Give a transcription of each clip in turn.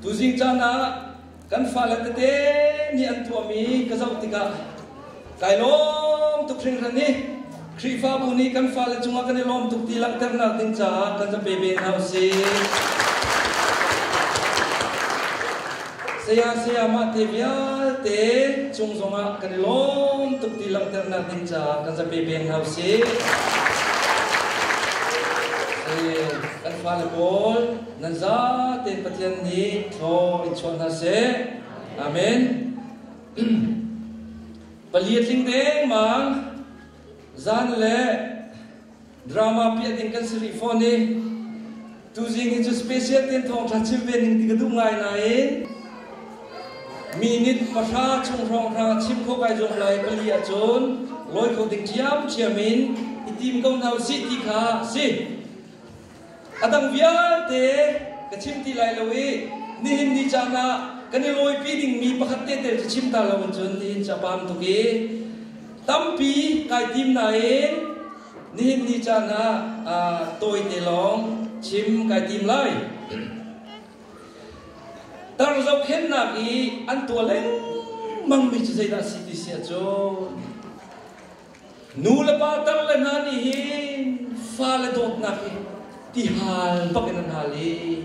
Tuzing caan ah kan fale tete nih an tuahmi ka zoh tikah kai lawm tuk hringhran i Khrihfabu nih kan fale cungah kan i lawm tuk ti langhternak ding caah kan za pe ve hna usih. Saya sayamah te vialte cung zongah kan i lawm tuk ti langhternak ding caah kan za pe ve hna usih. Kan fale pawl nan zate Pathian nih thlaw in chuah hna seh. Amen. Pali a tling dengmang. Zan le drama piah ding kan si rih fawn i tuzing hi cu special ten thawng tha chim ve ning ti ka duh ngai nain minute pahra chung hrawng hrang chim kho kai zuam lai pali ahcun lawi kho ding ciam ciam in i tim ko hna u si ti kha si A dang vialte ka chim ti lai lo i nihin ni caan ah kan i lawipi dingmi pakhat tehte cu chim ta lo in cun nihin cu a pam tuk i tampi kai tim nain nihin ni caan ah aa tawite lawng chim kai tim lai. Tar zohkhennak i an tuah lengmangmi cu zeidah a si ti sia cu Nulepa tar le hna nih hi fale dawtnak hi tihal bakin an hal i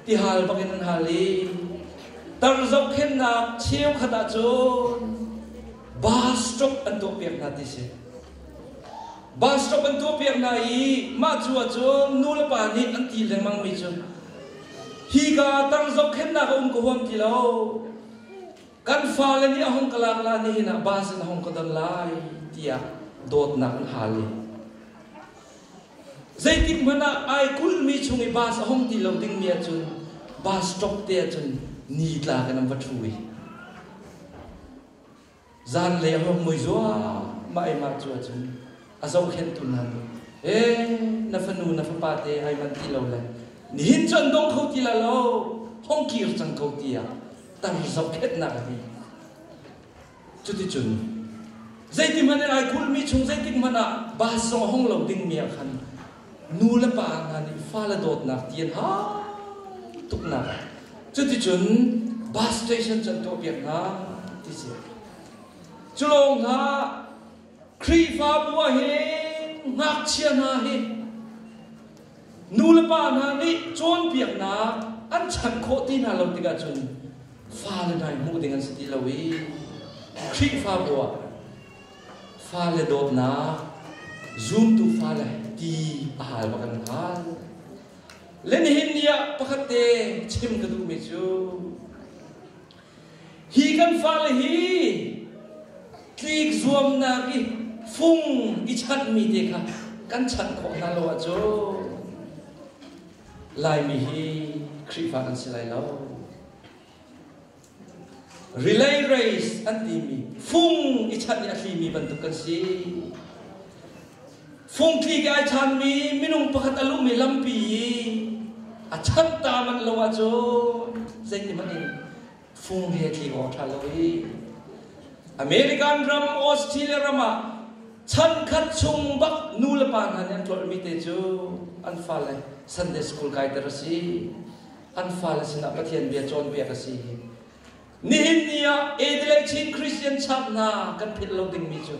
tihal bakin an hal i tar zohkhennak cheukhat ahcun bus stop an tuah piak hna ti si bus stop an tuah piak hna i mah cu ahcun nulepa nih an ti lengmang mi cu hi ka tar zohkhennak a um ka huam ti lo Kan fale nih a hung ka lak lai, nihin ah bus in a hung ka don lai tiah dawtnak in hal i zeitik hmanh ah ai kulhmi chung i bus a hung ti lo dingmi ahcun bus stop te ahcun ni tla kan an va thu i zanlei a hung mui zuah mah cu ahcun a zohkhenhtu hna nih, E, na fanu na fapa te ai manh ti lo le, nihin cu an dong kho ti la lo, hong kir cang ko tiah tar zohkhenhnak a ti. Cuticun zeiti hmanh in ai kulhmi chung zeitik hmanh ah bus zong a hong lo dingmi ah khan nu le pa hna nih fale dawtnak ti an hau tuknak ah cuticun bus station cu an tuahpiak hna ti si. Cu lawng hlah Khrihfabu ah hin ngakchia hna hi nulepa hna nih cawnpiaknak an chan khawh ti hna lo tikah cun fale dai hmuh ding an si ti lo i Khrihfabu ah fale dawtnak zumtu fale ti a hal bak an hal. Le nihin ni ah pakhat te chim ka duhmi cu Hi kan fale hi tlik zuamnak i fung i chanhmi te kha kan chanh khawh hna lo ahcun Laimi hi Khrihfa an si lai lo. Relay race an timi fung i chanh i a thlimi bantuk kan si. Fungthli ke ai chanmi minung pakhat a luhmi lampi i a chanh ta manh lo ahcun zeihmanh in fung he thli aw ṭha lo i American ram Australia ram ah chan khat chung bak nulepa hna nih an tlolhmi te cu an fale Sunday school kai ter a si an fale sinah Pathian bia cawnpiak a si Nihin ni ah Adelaide Chin Christian Church hna kan philh lo dingmi cu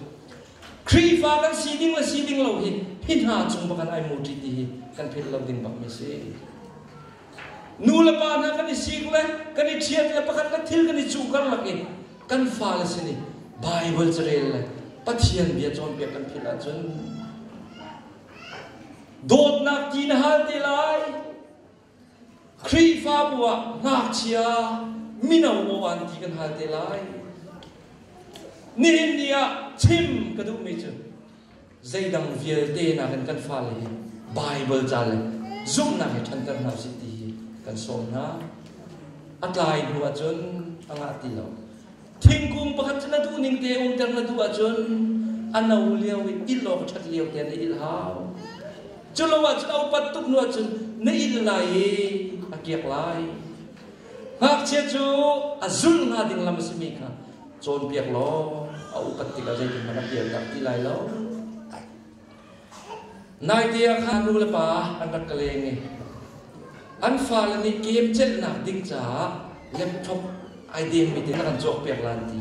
Khrihfa kan si ding le si ding lo hi hi hna cung bak an ai muṭi ti hi kan philh lo ding bak mi si. Nu le pa hna kan i sik le kan i ṭhiat le pakhat le thil kan i cung karlak i kan fale sin i Baibal carel le Pathian bia cawnpiak kan philh ahcun dawtnak ti na hal te lai Khrihfabu ah ngakchia mino maw an ti kan hal te lai. Nihin ni ah chim ka duhmi cu zeidang vialte nakin kan fale hi Baibal ca le zumhnak he ṭhanter hna sih ti hi kan sawm hna. A tlai hnu ahcun a ngah ti lo. thingkung pakhat cu na duh ning te umter na duh ahcun a no lio i il awk ṭhat lio te na il hau cu lo ahcun a upat tuk nu ahcun na il lai i a kiak lai ngakchia cu a zulh hnga ding lam a simi kha cawnpiak law a upat tikah zeitinhmanh a pial dah ti lai lo Naite ah khan nulepa an rak ka leng i an fale nih game celhnak ding caah laptop ai dengmi te na kan cawk piak lan ti.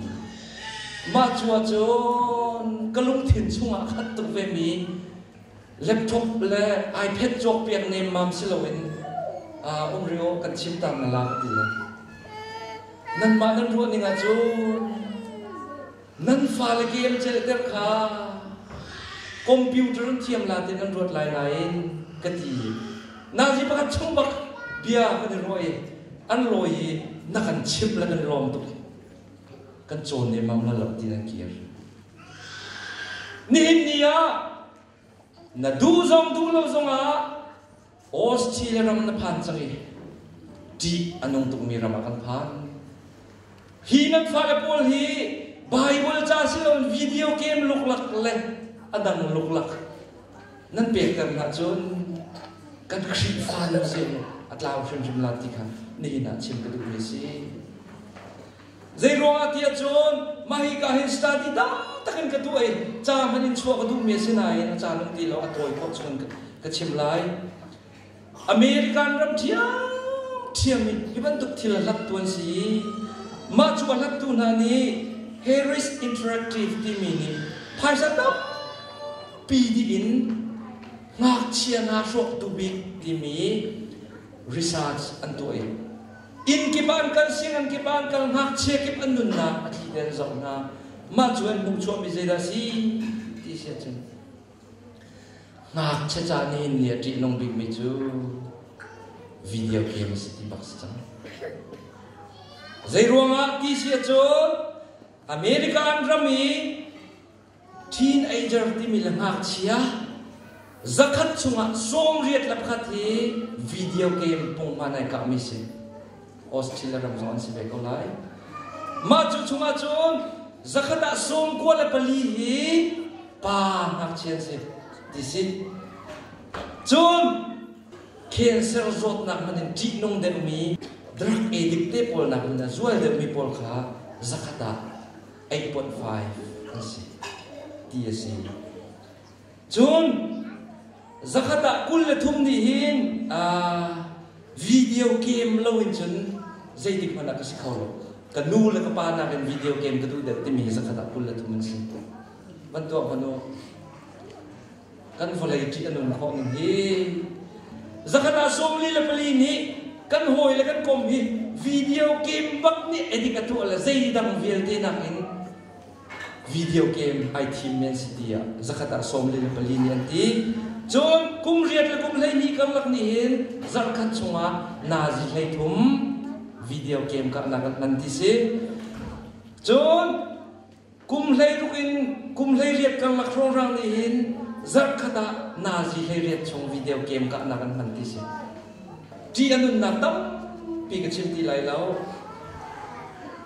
Mah cu ahcun ka lungthin chungah khat tuk vemi laptop le iPad cawk piak nemmam si loin uh, um rio kan chimtang na lak ti le. Nanmah nan ruahning ahcun Nan fale game-celhter kha computer in thiamla tein an ruat lai nain ka ti. Nazi pakhat chung bak bia kan i ruah i an lawi i na kan chimh le kan lawm tuk. Kan cawn nemmam la lo ti nan kir. Nihin ni ah na duh zong duh lo zongah Australia ram na phan cang i ṭih a nung tukmi ram ah kan phan. Hi nan fale pawl hi Bible ca siloin video game luklak le a dang luklak nan pekter hna cun kan Khrihfa nun si a tlau hrimhrim lan ti kha nihin ah chim ka duhmi a si. Zeiruangahtiah cun mah hika hin study taktak in ka duh i ca hmanh in chuah ka duhmi a si nain a ca lung ti lo a tawi khawh chun ka chim lai. American ram ṭhiamṭhiam in hi bantuk thil a hlattu an si i mah cu a hlattu hna nih Harris Interactive timi nih phaisa tampi dih in ngakchia hna hrawktu bik timi research an tuah i Inn kip ah an kal, sianginn kip ah an kal, ngakchia kip an nunnak a thliten zong hna mah cu an hmuh chuahmi zeidah a si ti si ahcun ngakchia ca nih in nih a ṭihnung bikmi cu video game si ti bak si cang. Zei ruangah ti si ahcun America an ram i Teenager timi le ngakchia zakhat chungah sawmriat le pakhat hi video game pungman ai kahmi si. Australia ram zong an si ve ko lai. Mah cu chungah cun zakhat ah sawmkua le pali hi pa ngakchia an si. Ti si. Cun cancer zawtnak man in ṭihnung deuhmi drug addict te pawl nakin a zual deuhmi pawl kha zakhat ah eiponh fai an si ti a si cun zakhat ah kul le thum nih hin video game lo in cun zeitik hmanh ah ka si kho lo ka nu le ka pa nakin video game ka duh det timi hi zakhat ah kul le thum an si van tuah hmanu kan vawlei ṭih a nung khawh ning hi zakhat ah sawmli le pali nih kan hawi le kan kom hi video game bak nih edit a tuah le zeidang vialte nakin video game ai thim men si ti ah zakhat ah sawmli le pali nih an ti cun kum riat le kum hleihnih karlak nih hin zarhkhat chungah nazi hlei thum video game karnak an ti si cun Kum hleiruk in kum hleiriat karlak hrawlrang nih hin zarhkhat ah nazi hleiriat chung video game kahnak an hman ti si. Ṭi a nunnak tampi ka chim ti lai lo.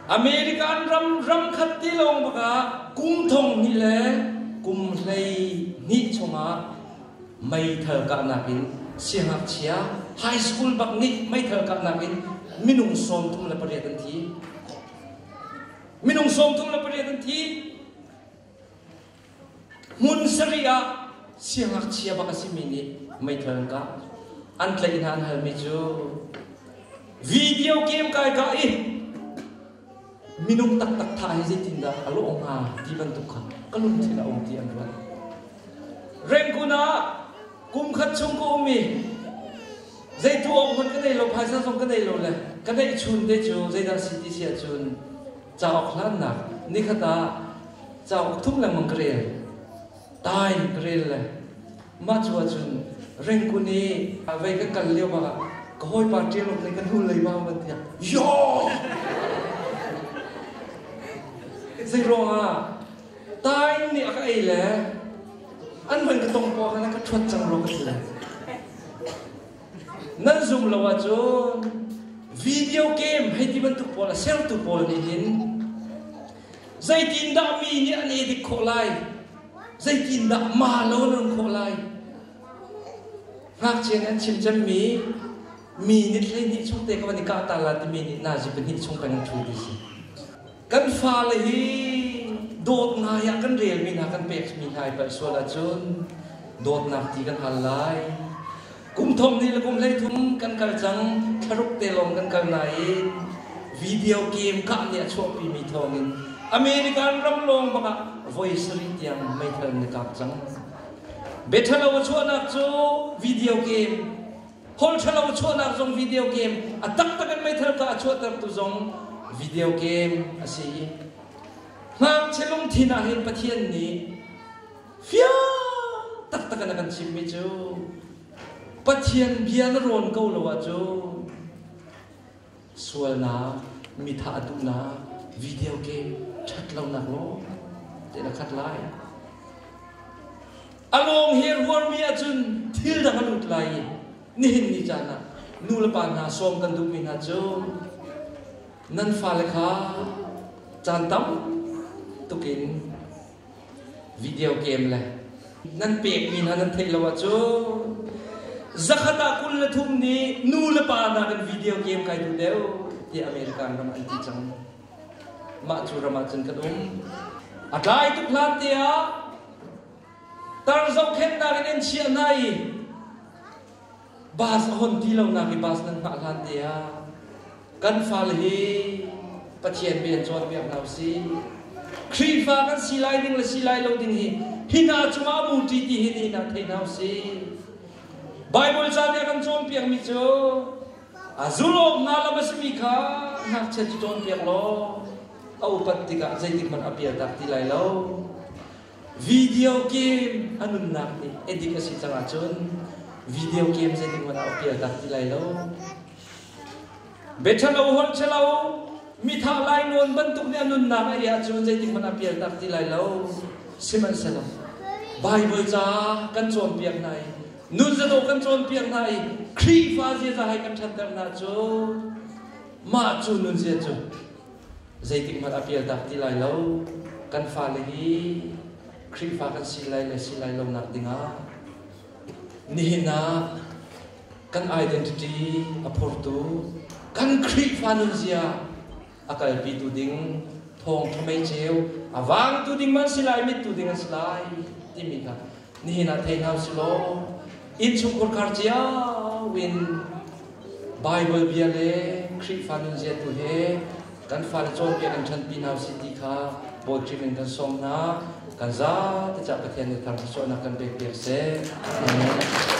American ram ram khat ti lawng bak ah kum thong ni le kum hlei ni chungah meithal kahnak in siangakchia high school bak nih meithal kahnak in minung sawm thum le pariat an thi. minung sawmthum le pariat an thi hmun sari ah siangngakchia bak a simi nih meithal an kah an tlaih hna an halmi cu video game kai ka i minung taktak tha hi zeitindah a lawh hnga ti bantuk kha ka lungthin a um ti an ruat rengkun ah kum khat chung ka um i zeitu awng hmanh ka nei lo phaisa zong ka nei lo le ka neih chun te cu zeidah si ti si ahcun cauk hlannak nikhat ah cauk thum lengmang ka rel tai ka rel le mah cu ahcun rengkun i vei ka kal lio ah ka hawipa ṭialuk nih ka hnullei ma van tiah yo zei ruangah Tain nih a ka ei le an man ka tong paw khan a ka ṭhuat cang ru ka si le nan zum lo ahcun video game hei ti bantuk pawl a sertu pawl nih hin zeitindah mi nih an e dik khawh lai zeitindah ma lo nan khawh lai ngakchia nih an chim cemmi mi nit hlei hnih chung te ka van i kah ta la timi nih nazi pahnih chung peng an ṭhu ti si Kan fale hi dawtnai ah kan relmi hna kan pekmi hna i palh sual ahcun dawtnak ti kan hal lai. Kum thum hnih le kum hleithum kan kal cang, thlaruk te lawng kan kal nain video game kah nih a chuahpimi thawngin American ram lawng bakah voi sarih tiang meithal na kap cang. Biathalo a chuahnak cu video game Thol ṭhalo chuahnak zong video game, a taktak in meithal ka a chuahtertu zong video game a si. Ngakchia lungthin ah hin Pathian nih fiang taktak in a kan chimmi cu Pathian bia na rawn ko lo ahcun sualnak, mitha a duhnak video game ṭhat lonak lawng te na khat lai. A lawng hi rualmi ahcun thil dang a lut lai i nihin ni caan ah nulepa hna sawm kan duhmi hna cu nan fale kha caan tam tukin video game le nan pekmi hna nan theih lo ahcun zakhat ah kul le thum nih nu le pa nakin video game kai tu deuh ti American ram an ti cang mah cu ram ah cun kan um a tlai tuk hlan te ah tar zohkhennak in an chiah hna i bus a hon ti lonak i bus nan hngah hlan te ah kan fale hi Pathian bia in cawnpiak hna usih Khrihfa kan si lai ding le si lai lo ding hi hi hna cungah buṭi ti hi nih nak thei hna usih Bible ca nih a kan cawnpiakmi cu a zulawk hna lam a simi kha ngakchiat cu cawnpiak law a upat tikah zeitik hmanh a pial tak ti lai lo Video game a nunnak nih edik a si cang ahcun video game zeitik hmanh ah a pial tak ti lai lo. Bethalo holchelo mithah lai nawn bantuk nih a nunnak a riah cu zeitik hmanh ah pial tak ti lai lo. Sihmanhsehlaw Bible ca kan cawnpiak hna i nunzadawh kan cawnpiak hna i Khrihfa ziaza hai kan ṭhanter hna cu mah cu nunzia cu zeitikhmanh a pial dak ti lai lo. Kan fale hi Khrihfa kan si lai le si lai lonak dingah nihin ah kan identity a phurtu kan Khrihfa nunzia a kalpitu ding thawng ṭha mei ceu a vangtu ding man si lai mittu ding an si lai timi kha nihin ah thei hna silaw innchungkhur khar cia in Bible bia le Khrihfa nunzia tu he kan fale cawnpiak kan ṭhanpi hna si ti kha bawṭim in kan sawm hna kan za te cah Pathian nih thar sualnak kan pek piak seh. Amen.